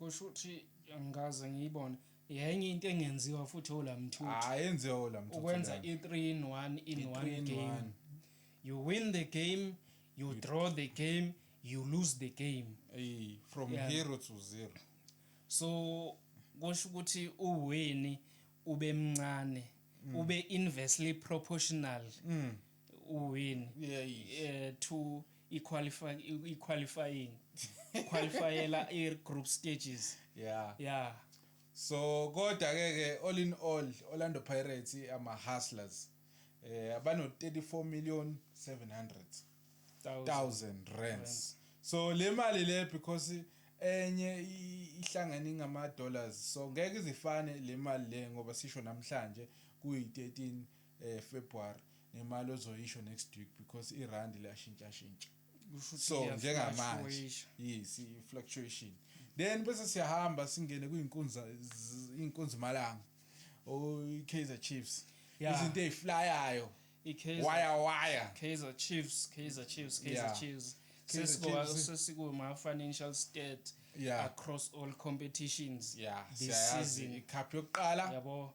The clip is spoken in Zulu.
Kusho ukuthi angikaze ngiyibone. Yenye into engenziwa futhi ola mthuthi. Hayi enziwa ola mthuthi. Ukwenza i3 in 1 in 1 game. You win the game, you draw the game, you lose the game. Hey, from yeah. hero to zero. So kusho ukuthi uwini ube mncane, mm. ube inversely proportional. Mm. uwin eh two iqualify iqualifying qualifyela i group stages yeah yeah so kodwa ke ke all in all Orlando Pirates ama hustlers eh abano 34 million 700 thousand rands so le mali le because enye ihlangene ngama dollars so ngeke izifane le mali le ngoba sisho namhlanje kuyi 13 eh, February ngemali ozoyisho next week because irand liyashintshashintsha so njengamanje yes i-fluctuation then bese siyahamba singene kwiinkunza iinkunzi malanga i-kaizer oh, chiefs izinto ey'flayayo waya waya kaizer chiefs kaizer chiefs kaizer chiefs sesikuwama-financial state yeah. across all competitions yeah. this season ikhaphi yokuqala yabo